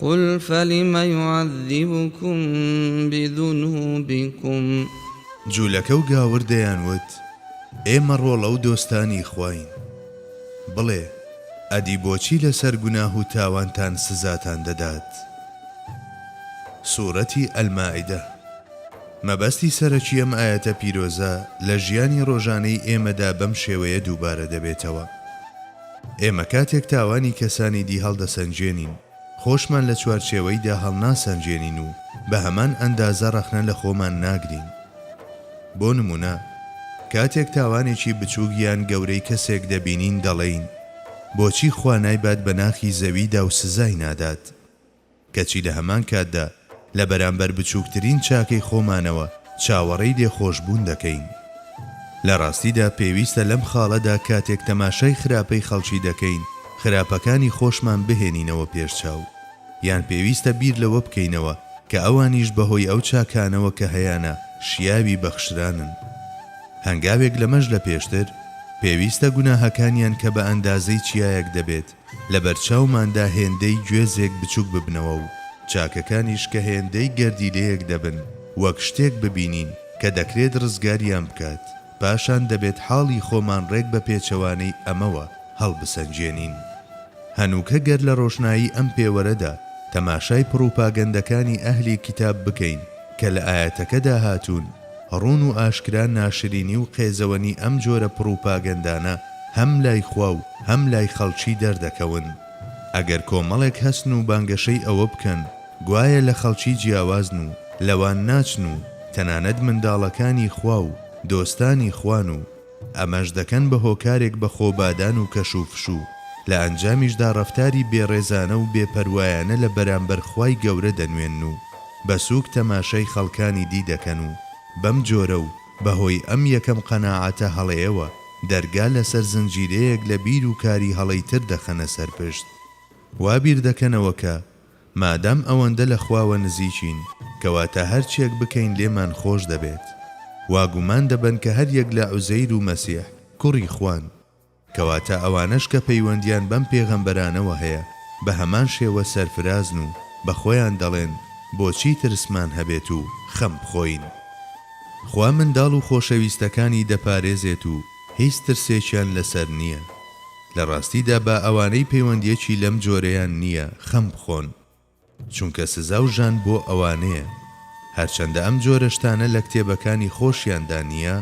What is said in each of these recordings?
قل فلم یعذبکم بذنوبکم. جولەکە و گاور دەیانوت، ئێمە ڕۆڵە و دۆستانی خواین. بڵێ، ئەدی بۆچی لەسەر گوناه و تاوانتان سزاتان دەدات؟ سورەتی، المائدە، مەبەستی سەرەکی ئەم ئایەتە پیرۆزە لە ژیانی ڕۆژانەی ئێمەدا بەم شێوەیە دووبارە دەبێتەوە. ئێمە کاتێک تاوانی کەسانی دی هەڵدەسەنگێنین، خۆشمان لە چوارچێوەیدا هەڵناسەنگێنین و بە هەمان ئەندازە ڕەخنە لە خۆمان ناگرین. بۆ نموونە، کاتێک تاوانێکی بچووک یان گەورەی کەسێک دەبینین، دەڵێین، بۆچی خوا نایبات بە ناخی زەویدا و سزای نادات؟ کەچی لە هەمان کاتدا لە بەرامبەر بچووکترین چاکەی خۆمانەوە چاوەڕێی لێخۆشبوون دەکەین. لە ڕاستیدا پێویستە لەم خاڵەدا کاتێک تەماشای خراپەی خەڵکی دەکەین، خراپەکانی خۆشمان بهێنینەوە پێش چاو. یان پێویستە بیر لەوە بکەینەوە کە ئەوانیش بەهۆی ئەو چاکانەوە کە هەیانە شیاوی بەخشرانن. هەنگاوێک لەمەش لە پێشتر، پێویستە گوناهەکانیان کە بە ئەندازەی چیایەک دەبێت، لەبەرچاوماندا هێندەی گوێزێک بچوک ببنەوە و چاکەکانیش کە هێندەی گەردیلەیەک دەبن وەک شتێک ببینین کە دەکرێت ڕزگاریان بکات، پاشان دەبێت حاڵی خۆمان ڕێک بە پێچەوانەی ئەمەوە هەڵبسەنگێنین. هەنووکە گەر لە ڕۆشنایی ئەم پێوەرەدا تەماشای پڕوپاگەندەکانی ئەهلی کیتاب بکەین کە لە ئایەتەکەدا هاتوون، ڕوون و ئاشکرا ناشرینی و قێزەوەنی ئەم جۆرە پڕوپاگەندانە هەم لای خوا و هەم لای خەڵکی دەردەکەون. ئەگەر کۆمەڵێک هەستن و بانگەشەی ئەوە بکەن گوایە لە خەڵکی جیاوازن و لەوان ناچن و تەنانەت منداڵەکانی خوا و دۆستانی خوان و، ئەمەش دەکەن بە هۆکارێک بە خۆبادان و کەش و فشو، لە ئەنجامیشدا ڕەفتاری بێ ڕێزانە و بێ پەروایانە لە بەرامبەر خوای گەورە دەنوێنن و بە سووک تەماشای خەڵکانی دی دەکەن و بەم جۆرە و بە هۆی ئەم یەکەم قەناعەتە هەڵەیەوە دەرگا لەسەر زنجیرەیەک لە بیر و کاری هەڵەی تر دەخەنە سەر پشت وا بیر دەکەنەوە کە مادام ئەوەندە لە خواوە نزیکین، کەواتە هەرچیەک بکەین لێمان خۆش دەبێت. وا گومان دەبەن کە هەریەک لە عوزەیر و مەسیح کوڕی خوان. کەواتە ئەوانەش کە پەیوەندیان بەم پێغەمبەرانەوە هەیە بە هەمان شێوە سەرفرازن و بە خۆیان دەڵێن بۆچی ترسمان هەبێت و خەم بخۆین؟ خوا منداڵ و خۆشەویستەکانی دەپارێزێت و هیچ ترسێکیان لەسەر نییە. لە ڕاستیدا با ئەوانەی پەیوەندیەکی لەم جۆرەیان نییە خەم بخۆن چونکە سزا و ژان بۆ ئەوانەیە هەرچەندە ئەم جۆرە شتانە لە کتێبەکانی خۆشیاندا نییە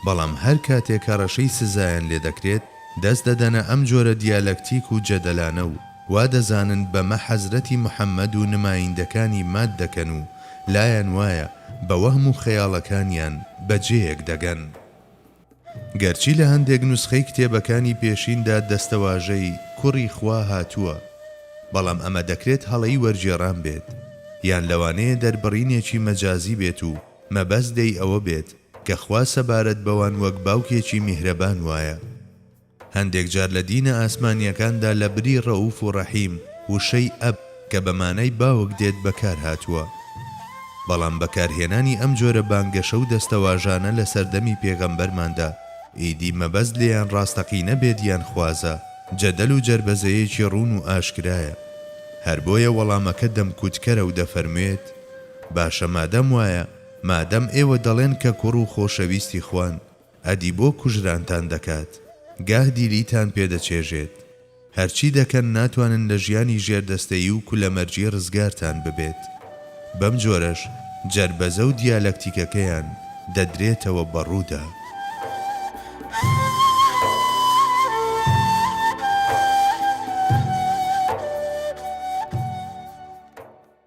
بەڵام هەر کاتێک هەڕەشەی سزایان لێ دەکرێت دەست دەدەنە ئەم جۆرە دیالەکتیک و جەدەلانە و وا دەزانن بەمە حەزرەتی محەمەد و نمایندەکانی مات دەکەن و لایان وایە بە وەهم و خەیاڵەکانیان بە جێیەک دەگەن. گەرچی لە هەندێک نوسخەی کتێبەکانی پێشیندا دەستەواژەی، کوڕی خوا، هاتووە، بەڵام ئەمە دەکرێت هەڵەی وەرگێڕان بێت، یان لەوانەیە دەربڕینێکی مەجازی بێت و مەبەست لێی ئەوە بێت کە خوا سەبارەت بەوان وەک باوکێکی میهرەبان وایە. هەندێک جار لە دینە ئاسمانییەکاندا لە بری ڕەئوف و ڕەحیم، وشەی، ئەب، کە بە مانای باوک دێت بەکار هاتووە. بەڵام بەکارهێنانی ئەم جۆرە بانگەشە و دەستەواژانە لە سەردەمی پێغەمبەرماندا، ئیدی مەبەست لێیان ڕاستەقینە بێت یان خوازە، جەدەل و جەربەزەیەکی ڕوون و ئاشکرایە. هەر بۆیە وەڵامەکە دەمکوتکەرە و دەفەرموێت، باشە مادام وایە، مادام ئێوە دەڵێن کە کوڕ و خۆشەویستی خوان، ئەدی بۆ کوژرانتان دەکات گاه دیلیتان پێ دەچێژێت هەرچی دەکەن ناتوانن لە ژیانی ژێر دەستەیی و کولە مەرجی رزگارتان ببێت بەم جۆرەش جەربەزە و دیالەکتیکەکەیان دەدرێتەوە بە روودا.